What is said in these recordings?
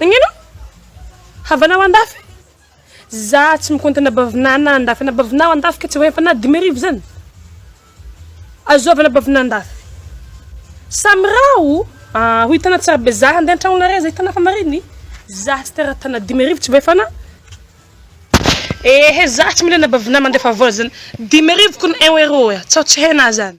Nagnino? Havana ao andafy? Za tsy mikontr ana bavina ana andafy ana bavina ao andafy ka tsy voahefa ana dimy arivo zany? Azova ana bavina andafy. Samiraho ah ho hitana tsara be za handeha antragnonareo za hitana fa marigny za tsy tera tana dimy arivo tsy voahefa ana ehe za tsy mila ana bavina mandefa vola zany dimy arivo kony un euro eh sao tsy hena zany.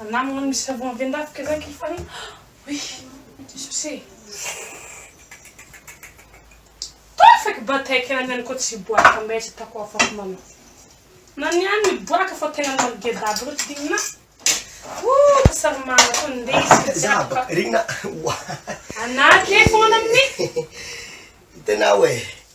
Anah magnano misy savon avy andafika zah kely fane oui jesus e Toa feky bataille kera niany ko tsy boaka mbay tsy tako afako manao na niany miboaka fa tegna nao geda aby reo tsy dignina oh fa sary manga ko ndeha isika tsy ako ka Zava-pirenena, ouah. Anah kely fognana amin'ny. Hitanao e.